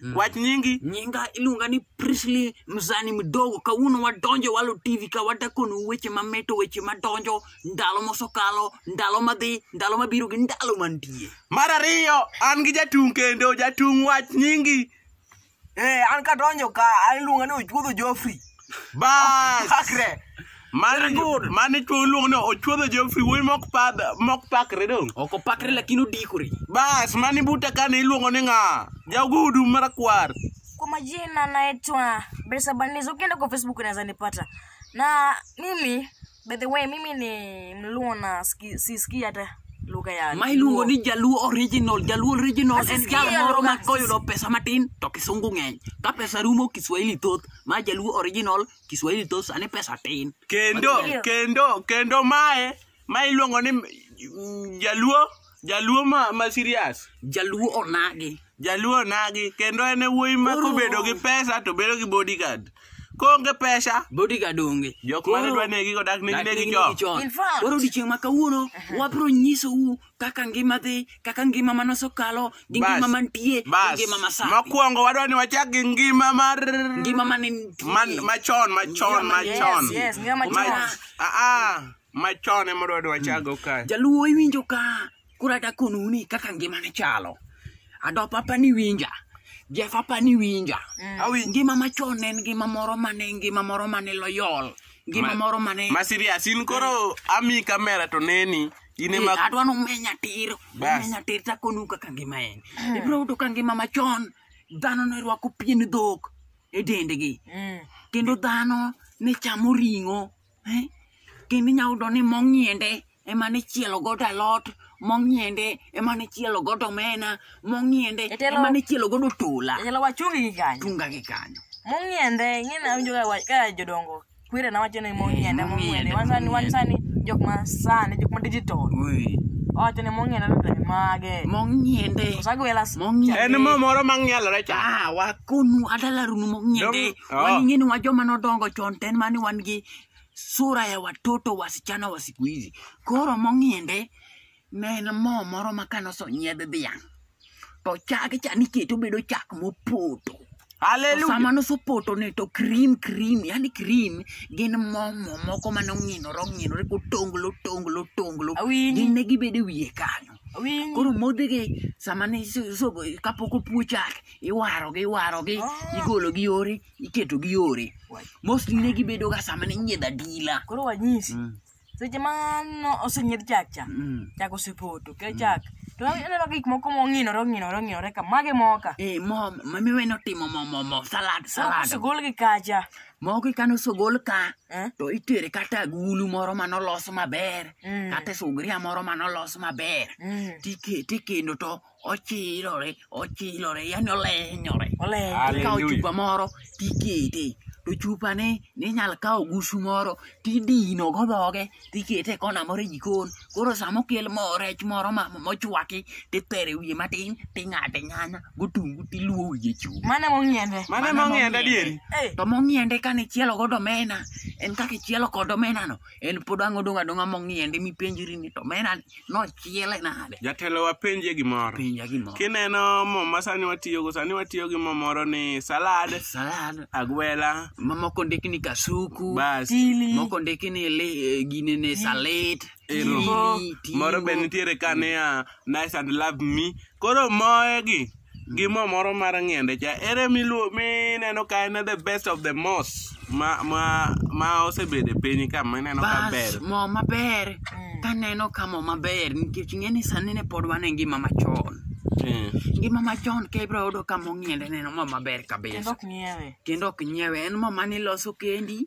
Mm. wach nyingi nyinga iluonga ni Prisley Mzani Mdogo. Kawuono wadonjo Walo TV ka wadakonu weche mameto, weche madonjo ndalo mosekalo, ndalo madhi, ndalo mabiro gi ndalo mantie. mar ariyo an gi jatung' kendo jatung' wach nyingi Eh, an kadonjo ka, an iluonga ni Ochuodho Joffrey. bas Pakre. mani mani chuo luong ni ochuodho Geoffrey wuoyi mok pad mok pakre dong Ok opakre lakini odikore. bas mani buta kane iluongo ni ng'a jagudu marakwar Kwa majina naitwa Bersa Banizo, ukienda kwa Facebook unaweza nipata. Na mimi By the way, mimi ni mluo na ski- sisikii hata lugha ya ma iluongo ni jaluo original jaluo original en Asisikie jal moro lugha, ma koyudo pesa matin to kisungu ng'eny ka pesa rumo kiswahili thoth ma jaluo original kiswahili thoth sani pesa tin kendo Ndio. kendo kendo mae ma iluongo ni mm, jaluo Jaluo ma, ma serious. Jaluo onagi. Jaluo nagi kendo en e wuoyi ma Koro- kobedo gi pesa to bedo gi bodyguard. Koonge pesa Bodyguard onge. jok mane Koro- dwa negi kodak negi Dak- negi negi chon. chon. In fact. Koro odiechieng' ma kawuono wabiro nyisou kaka ngima dhi, kaka ngima ma nosekalo, gi Bas. ngima mantie, gi Bas. ngima masani. Mokwongo wadwa ni wachak gi ngima mar Ngima mane nitie. man machon machon Ngima machon. Yes, yes, ngima Mach- machon. Ah ah. machon ema odwa dwa chago kae jaluo iwinjo ka kura dakonuni kaka ngimane chalo adop apani winja jef apani winja Awinji. ngima machon ne en ngima moro mane ngima moro mane loyol ngima Ma- moro mane ma serious in koro ami kamera to neni in ema Eh, adwa nomenya tir Bas. omenya tir takonu kaka ngima en ibiro yudo ka ngima machon dhano ne rwako pien dhok e dendgi kendo dhano ne chamo ring'o Eh? Kendo inyalo yudo ni mong'iende ema ne chielo godo alot, mong'iende ema ne chielo godo omena, mong'iende Jatelo- ema ne chielo godo tola. Jatelo wachungi gi kanyo. Tunga gi kanyo. Mong'iende, ing'e na winjo ka wa- ka jodongo kwere na wacho ni mong'iende, Eh, mong'iende. mong'iende, Wan sani wan sani jok ma sani jok ma digital. Ui. Wacho ni mong'iende to e mage. Mong'iende. Osagwela s- Mong'iende. En mo moro mang'ielore cha. Ah, wakonu adala runu mong'iende. Dong- Oh. Kwani nyinyi ni wajoma nodongo chon ten mani wan gi sura ya watoto wasichana wa siku hizi. Koro mong'iende ne en mo moro ma kane osonyiedh dhiang'. To chage cha niketo bedo chak mopoto. To Hallelujah. sama nosopoto ni to cream cream yani cream gin mo mo moko mane ong'inore ong'inore kotonglo tonglo tonglo Awinji. gin ne gibedo e wiye kanyo Awinji. koro modhigi sama ne kapok opwo chak iwarogi iwarogi ah. igologi yore iketogi yore mostly ne gibedoga sama ne inyiedho adila koro wanyisi mm. seche ma osenyiedh chak cha mm. chak osepoto ke mm. chak to ineno gik moko mong'inore ong'inore ong'inore ka mage moka eh, mamiwe notimo momomo salad salad osegol gi kacha moko ikano sogol ka eh? to itere kata agulu moro ma nolos maber kata sugria moro ma nolos maber tikendo to ochilore ochilore yani olenyore olenyore ikawo Hallelujah. chupa moro tikete to chupane ninyal kawo gusu moro tidino go dhoge tikete e kona moro e jikon koro sama okel mo rech moro ma- ma- mochwaki titere wiye matin ting'ade nyanya gotungu tiluo wiye chupa Mane mong'iende. Mane mong'enda dieri? Eh. to mong'iende kane ichielo godo omena en kaka ichielo kod omenano en pod ang' odong' adong'a mong'iende mipenjri ni to mena nochiele nade jatelo wapenje gimoro penja gimoro kineno mo ma sani watiyogo sani watiyo gi mo moro ni salad salad agwela ma moko ndiki ni kasuku bas Chili. moko ndiki ni li- eh, gine ni salit Ero. chili, moro be tingo. nitiere ka niya nice and love me koro moegi gi mo moro mar ng'ende cha ere miluo mineno ka en the best of the most ma ma ma osebedo e piny ka mineno ka ber Bas, mo maber Mm. kaneno ka mo maber nikech ng'eni sani ne pod wan e ngima machon Eh, ngima machon ka ibro yudo ka mo ng'iende neno mo maber Kendo kabisa ok ng'iewe. kendo ok nyiewe en mo mane iloso kendi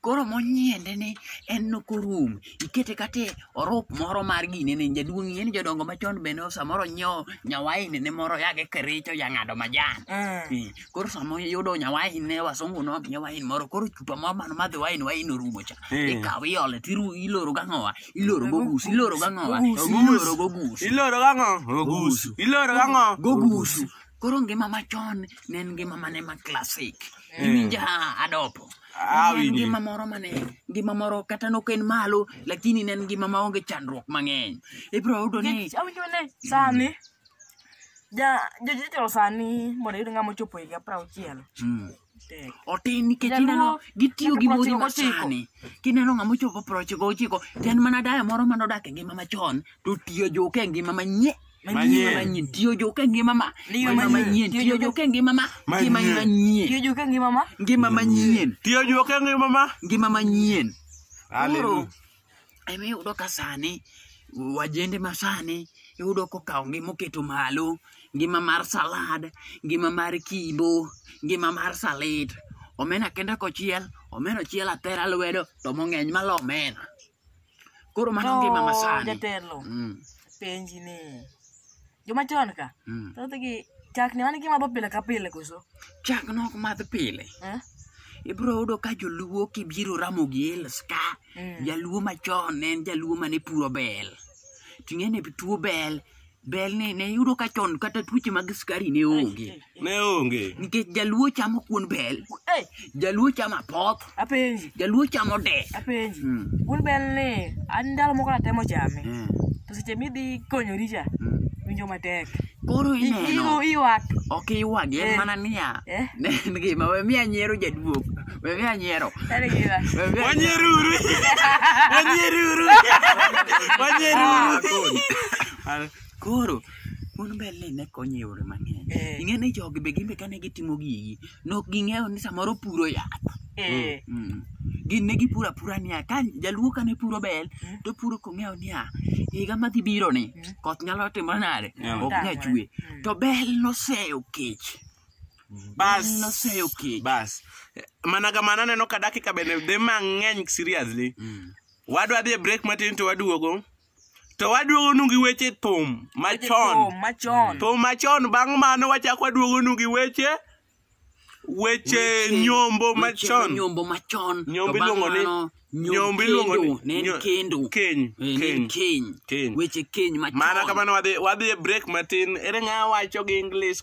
Koro monyiende ni en nokorum, ikete kate orup moro mar gine ne jaduong' ing'e ni jodongo machon bende samoro nyiewo nyawaini ne moro yage kericho ya ng'ado majan. Eh. Eh, Koro sama iyudo nyawaini ne wasungu nomiye wain moro koro chupa moro mano madhi wain wain orumo cha. Eh. Ikawo iole tiru iloro gang'owa, iloro gogus, iloro gang'owa, Gogus. iloro gogus. Iloro gang'o? Ogusu. Iloro gang'o? Gogusu. Koro ngima machon ne en ngima mane ma classic. iwinja adopo Ah, En winji. ngima moro mane ngima moro kata nok en malo lakini ne en ngima maonge chandruok mang'eny ibiro yudo ni Nikech awinjo ni sani ja jojitelo sani mondo yud ng'ama ochopo higa pra auchiel Mm. tek otin nikech Jaluo, ineno gitiyo gi nyaka modhi prochiko ochiko. masani kineno ng'ama ochopo prochiko ochiko to en mana daya moro manodak e ngima machon to tiyo joka e ngima manyie Manyien. manyien tiyo jo ka ngima ma Tiyo ngima manyien. manyien Tiyo tiyo jo- jo ka ngima ma Manyien. ngima manyien Tiyo joka ngima ma. ngima manyien Tiyo juok e ngima ma. ngima manyien Hallelujah. ema iyudo ka sani wajende ma sani iyudo kokawo ngima oketo malo ngima mar salad ngima mar kibo ngima mar salit omena kende kochiel omena ochiel atera lwedo to mong'eny malo omena Koro mano ngima masani. Jatelo. Mm. Penji ni. Joma chon ka. Mm. Thoth gi chak ni mano gima dho pile ka pile koso. Chak no ok madh pile. Eh? Ibro yudo ka joluo kibiro ramo gi els ka. Mm. Jaluo machon ne en jaluo mane puro bel. Ting'e ne tuo bel. Bel ne, ne yudo ka chon kata tuoche mag sukari ne onge. Ne onge. Nikech jaluo chamo kuon bel. Hey. Jaluo chamo apoth. Apenji. Jaluo chamo de. Apenji. Mm. Kuon bel ni, an ndalo moko natemo chame. Mm. To seche midhi konyori cha, mm. winjo matek. Koro ineno. Iwak. Ok iwak, en eh. mana niya. Eh. Ne en gima, we miya nyiero jaduok. Bebe anyiero. Tari gima. Bebe Wanyeruru. Wanyeruru. Wanyeruru. Ah, Koro mon mbele ne konyo e yore mang'eny. Eh. Ing'e ni jogi be gin be kane gitimo gigi, nok ging'eyo ni samoro puro yath. Eh. Mm. Gin ne gipuro apura niya, ka jaluo kane puro bel, Mm. to puro kong'eyo niya, higa madhi biro ni, Mm. koth nyalo timo nade? Yeah. Ok nya chwe. Mm. To bel noseyo kech. Bas. Mm, noseyo kech. bas Eh, mana kamano aneno ka dakika bende dhi mang'eny seriously Mm. wadwa dhi e break matin to waduogo to waduogonu gi weche thum machon Oh, machon. thum machon bang' mano wachako waduogonu gi weche weche Weche- nyombo weche machon nyombo machon Nyombo To bang' iluongo ni- mano, nyom- nyombo iluongo ni- kendo, ne en nyo- kendo keny, Eh, ne en keny, keny keny. weche keny machon mana kamano wadhi wadhi e break matin ere ng'a wacho gi english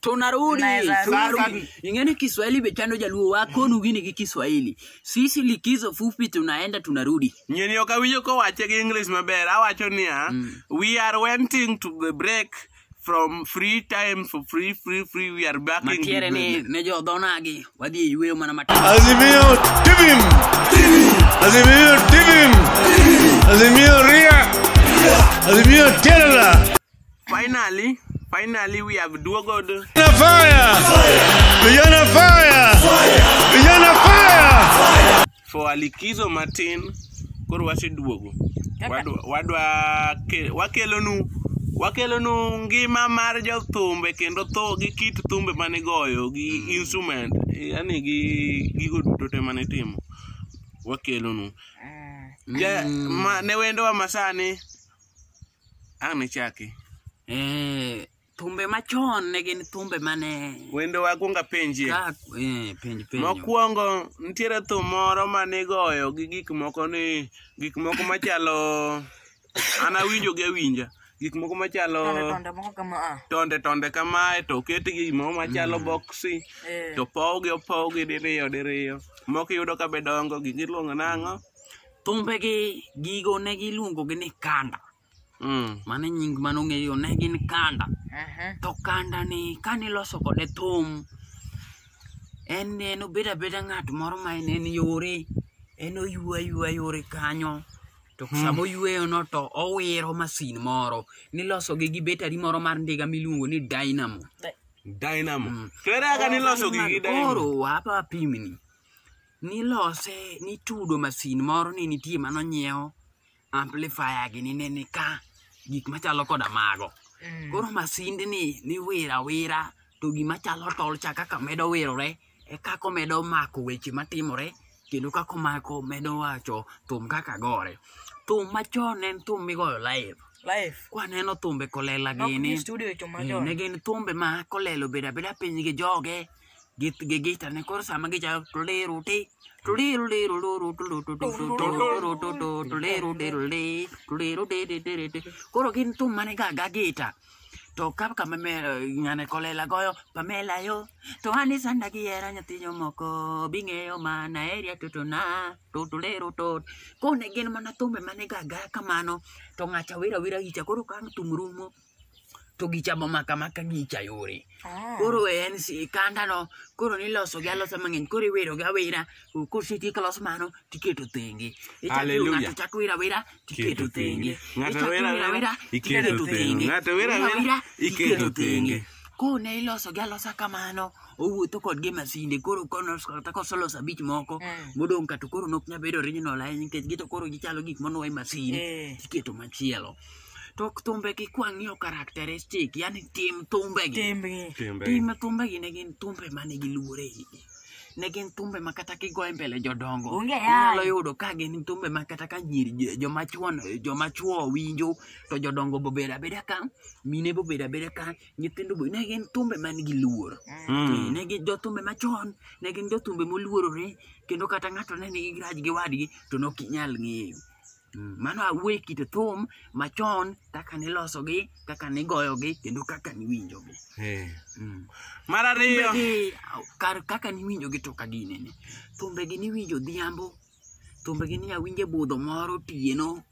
tunarudi Tunaweza tunarudi. rudi. ingeni kiswahili bechano jaluo wakonu gini gi kiswahili sisi likizo fupi tunaenda tunarudi nyeni ok awinjo kowache gi english maber awacho niya we are wanting to the break from free time for free free free we are backing matiere the ni ne jodhonagi wadhi e yueyo mana matin Azimio Tibim! Azimio Tibim! Azimio Ria! Azimio Terra! Finally, finally we have duogo the Vijana fire! Vijana fire! Vijana fire! for a likizo matin. Koro waseduogo. Wadwa wadwa ke- wakelonu wakelonu ngima mar jothumbe kendo tho gi kit thumbe mane goyo gi instrument yani gi gigo duto te mane timo wakelonu. Ja, ma, ne wendowa masani Ang' nichaki. Eh, thumbe machon ne gin thumbe mane Wendo wakwonga penjie. ka eh, penj penjo. Mokwongo nitiere thum moro ma nigoyo gi gik moko ni gik moko machalo an awinjo gi awinja gik moko machalo Tonde moko kama a. tonde tonde kamae to oketgi gimoro machalo boksi Eh. to opowgi opowgi diriyo diriyo moko iyudo ka be dongo gigi iluongo nang'o thumbegi gigo ne giluongogi ni kanda mm. mano e nying mane ong'eyo ne gin kanda to kanda ni kane iloso kode thum en ne en obedo abeda ng'at moro ma en en yore en oywa ywa yore kanyo to hmm. sama oyweyono to owiro masin moro niloso gi gi betari moro mar ndiga miluongo ni dynamo dynamo mm. kere aka niloso gi gi dynamo koro wapa pimni nilose nitudo masin moro ne nitie mano nyiewo amplifier gi ni ne ni ka gik machalo koda mago Mm. koro masinde ni niwira wira to gima chalo tol cha kaka medo wirore e kako medo mako weche matimore kendo kako mako medo wacho thum kaka gore thum machon en thum migoyo live Life. kwaneno thumbe kolela Nok gini ni studio to Eh, machon. ne gin thumbe ma kolelo bedo abeda piny gi joge git gi git ne koro sama gichalo tuliru ti tuliru liru luru tulu tu tu tu tuluru tu tu tuliru diru li tuliru di di di di di koro gin thum mane ga ga gita to ka kama me ngane kolela goyo pamela yo to ani sanda gi era nyathinyo moko bing'eyo mana eria tutuna tu tuliru tu kone gin mana thumbe mane ga ga kamano to ng'acha wira wira gicha koro ka thum rumo to gichamo maka maka gicha yore Ah. koro en si- kandano koro nilosogi alosa mang'eny koro iwerogi awera O, kosetiek los mano tiketo thenge Ichako iro Hallelujah. ng'ato chako wira wira tiketo thenge Ng'ato Ichako wira wira wira, iketo thenge. Ng'ato wira Wira wira, iketo thenge. kone ilosogi alosa kamano owuotho kodgi e masinde koro konos- kata kosoloso abich moko Mm. modong' ka to koro nok nyabedo original ahinya nikech gito koro gichalo gik monuwa e masin Eh. tiketo machielo to thumbegi kwang'iyo characteristic yani tim thumbegi Timbgi. Timbe. tim thumbegi ne gin thumbe mane gi luore igi ne gin thumbe ma kata kigoye mbele jodongo Onge yaye. inyalo yudo ka gin thumbe ma kata ka nyiri jo- joma chuon joma chuo winjo to jodongo bobedo abeda ka mine bobedo abeda ka nyithindo bo ne gin thumbe man gi luor Mm. ne gin jothumbe machon ne gin jothumbe moluorore kendo kata ng'ato ne nigi graj gi wadgi to ne ok inyal ng'eyo Mm, mano awuoye kit thum machon kaka nilosogi kaka nigoyogi kendo kaka niwinjogi eh. mm. mar ariyo kar kaka niwinjogi to ka ginene thumbegi niwinjo dhiambo thumbegi ni awinje budho moro tieno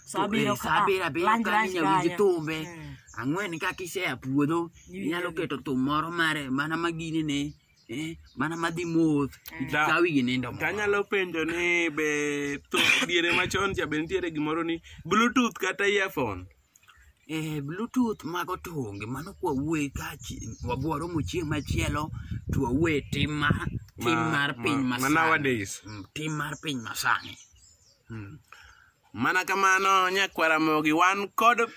sabira abiro kanyawinj thumbe eh. ang'wen kaka isea puodho inyalo keto thum moro mare mana maginene eh, mana madhi moth Ta- kawi gi nindo moro. tanyalo penjo ni be tho- diere machon cha be nitiere gimoro ni bluetooth kata earphone eh, bluetooth mago to onge mano kwa wuoye ka chi- wabworo mu chieng' machielo to wawuoye tim ma tim Ma- mar piny ma- ma masani nowadays. Mm, tim mar piny masani Mana kamano nyakwar Ramogi wan kod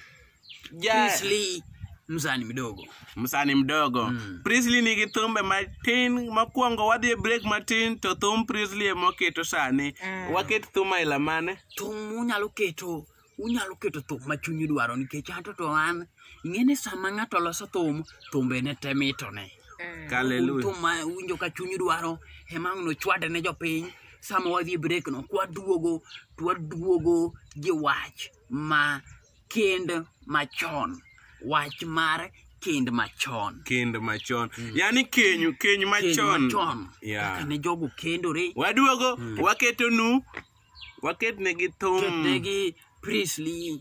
ja Prisley msani mdogo. msani mdogo Mm. Prisley nigi thumbe matin mokwongo wadhi e break matin to thum Prisley emoketo sani Mm. waket thum aila mane Thum unyalo keto unyalo keto thum ma chunyi dwaro nikech anto to an ing'e ni sama ng'ato loso thum thumbe ne te mitone. Hallelujah. Thum ma winjo ka chunyi dwaro ema nochwade ne jopiny sama wadhi break no kwaduogo twaduogo gi wach ma kend machon wach mar kend machon kend machon yani keny keny kend machon machon Yeah. kaka ne jogo kendore waduogo waketonu waketnegi thum ketnegi priestly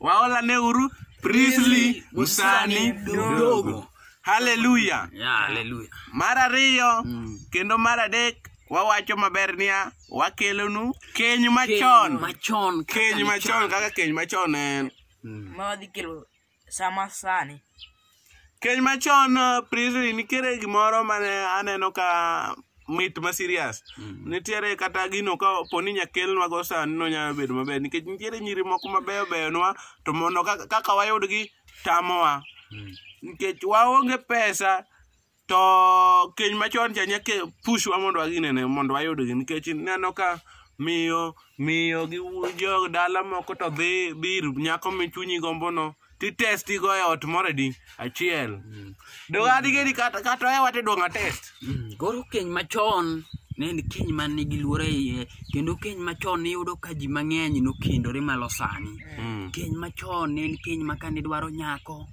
Waola ne uru Priestley Musani Dogo. Hallelujah. Yeah, hallelujah. Mar ariyo kendo mar adek wawacho maber niya wakelonu keny machon. Machon. kaka Keny ni machon kaka keny machon en. Ma wadhi kelo sama sani. Keny machon Priscilla nitiere gimoro mane aneno ka mit ma serious. Nitiere kata gino ka po ni nyakelnwa go sani no nyalo bedo maber nikech nitiere nyiri moko mabeyo beyo nwa to mondo kaka- kaka wayudgi tamowa. Nikech waonge pesa to keny machon cha nyaka pushwa mondo waginene mondo wayudgi nikech ineno ka miyo miyo gi wu- jo dala moko to dhi dhi ir nyako michunyi gombono titesti go e ot moro di achiel donge adigeni kata kata ohewa tidwong' atest Mm, koro keny machon ne en keny man nigi luoro e iye kendo keny machon niyudo ka ji mang'eny nokendore malo sani keny machon ne en keny ma kane dwaro nyako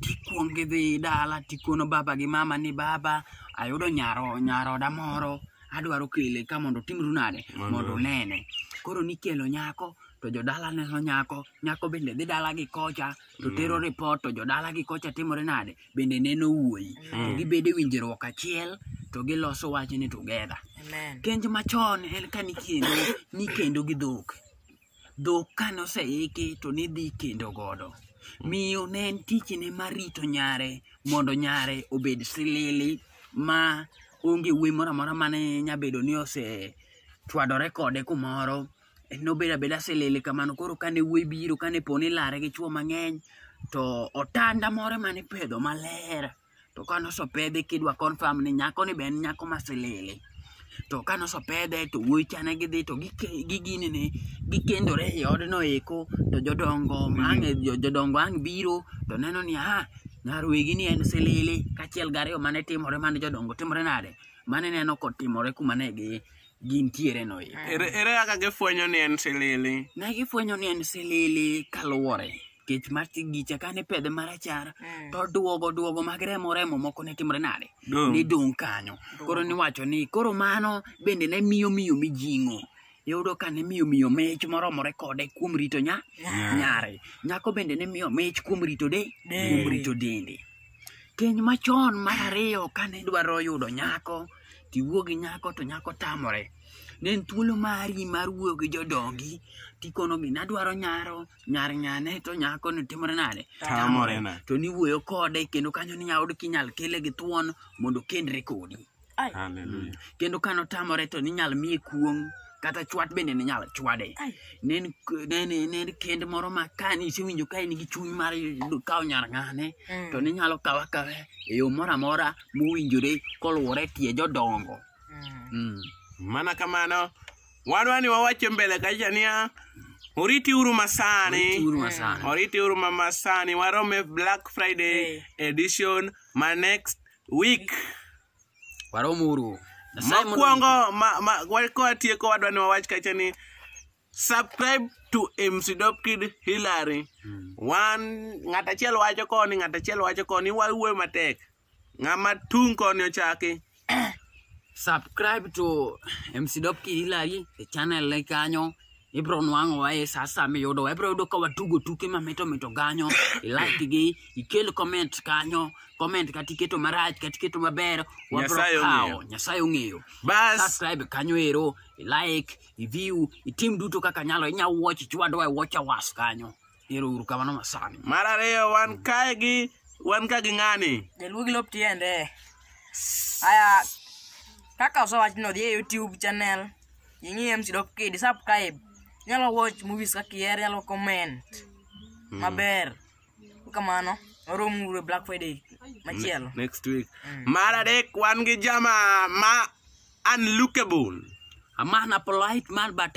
tikwong gidhi dala tikono baba gi mama ni baba ayudo nyaro nyaroda moro adwaro kele ka mondo timru nade Mondo- mondo unene koro nikelo nyako to jodala neno nyako nyako bende dhi dala gi kocha to tero ripot to jodala gi kocha timore nade bende neno wuoyi to gibedo e winjruok achiel to giloso wachni together Amen. kenj machon en ka nikendo nikendo gi dhok Dhok kane oseiki to nidhi kendo godo. Miyo ne en tichne mar rito nyare mondo nyare obed silili ma onge wuoyi moro amora mane nyabedo ni ose chwadore kode kumoro nobedo abeda silili kamano koro kane wuoyi biro kane po ni lare gi chwo mang'eny to otanda moro mane ipedho maler to ka nosopedhe kidwa confirm ni nyako ni be en nyako masilili to ka nosopedhe to wuoyi cha ne gidhi to gike- gigini ni gikendore e odno eko to jodongo ang' e- jo- jodongo ang' biro to neno ni ah nyarwegi ni en silili kachiel gariyo mane timore mane jodongo timore nade mane neno kotimore kuma ne gi gintiere no eko ere ere kaka gifwenyo ni en silili ne gifwenyo ni en silili kaluwore kech mar tigicha kane pedhe marachar Mm. to duogo duogo mag remo remo moko ne timore nade Dong. ne dong kanyo koro niwacho ni koro mano bende ne miyo miyo mijing'o yudo ka ne miyo miyo mich moromore kode kuom rito nya nyare nyako bende ne miyo mich kuom rito de kuom rito dende keny machon mar ariyo kane dwaro yudo nyako tiwuo gi nyako to nyako tamore ne en thuolo mari mar wuoyo gi jodongi tikonogi nadwaro nyaro nyar ng'ane to nyako ni timore nade Tamore na. to niwuoyo kode kendo kanyo ni nyaod kinyal kele gi thuon mondo okendre kodi Ai. Hallelujah. kendo kano tamore to ninyal miye kuong' kata chwat bende ninyal chwade Ai. ne en k- ne en- ne en kend moro ma ka nisewinjo ka in gi chuny mar yudo- kawo nyar ng'ane Mm. to ninyalo kawa kawe e yo moro amora mowinjore koluwore tie jodongo Mm. Mm. Mana kamano, Wadwa ni wawacho mbele kacha niya, oriti uru masani. Oriti uru masani. Oriti uru ma masani. Warome Black Friday edition ma next week. Warom uru. Nyasaye mondo- Mokwongo ma, ma, wa- ka watieko wadwa ni wawach kacha ni subscribe to MC Dope Kid Hillary. Wan ng'at achiel wacho koni, ng'at achiel wacho koni, wawuoyo matek. Ng'ama tung' koni ochaki. subscribe to MC Dop Kirilari e channel ne kanyo ibro nwang'o wae sa asaya miyudo ibro yudo ka watugo tuke mamito mito kanyo ilike gi ikel comment kanyo comment kata iketo marach kata iketo maber wabro Nyasaye kawo ong'eyo. nyasaye ong'eyo Bas. subscribe kanyo ero ilike iview itim duto kaka nyalo inya watch chwadwa e watch awas kanyo Ero uru kamano masani. Mar ariyo wan kae gi wan ka gi ng'ani. Jaluo gi lop tiende. Aya kaka osewach ni odhi e YouTube channel ing'i MC Dop Kid subscribe. Inyalo watch movies kaka iher, inyalo comment hmm. maber. Kamano, oromo uru e Black Friday machielo. Next week. Hmm. Mar adek wan gi jama ma unlookable. A man a polite man but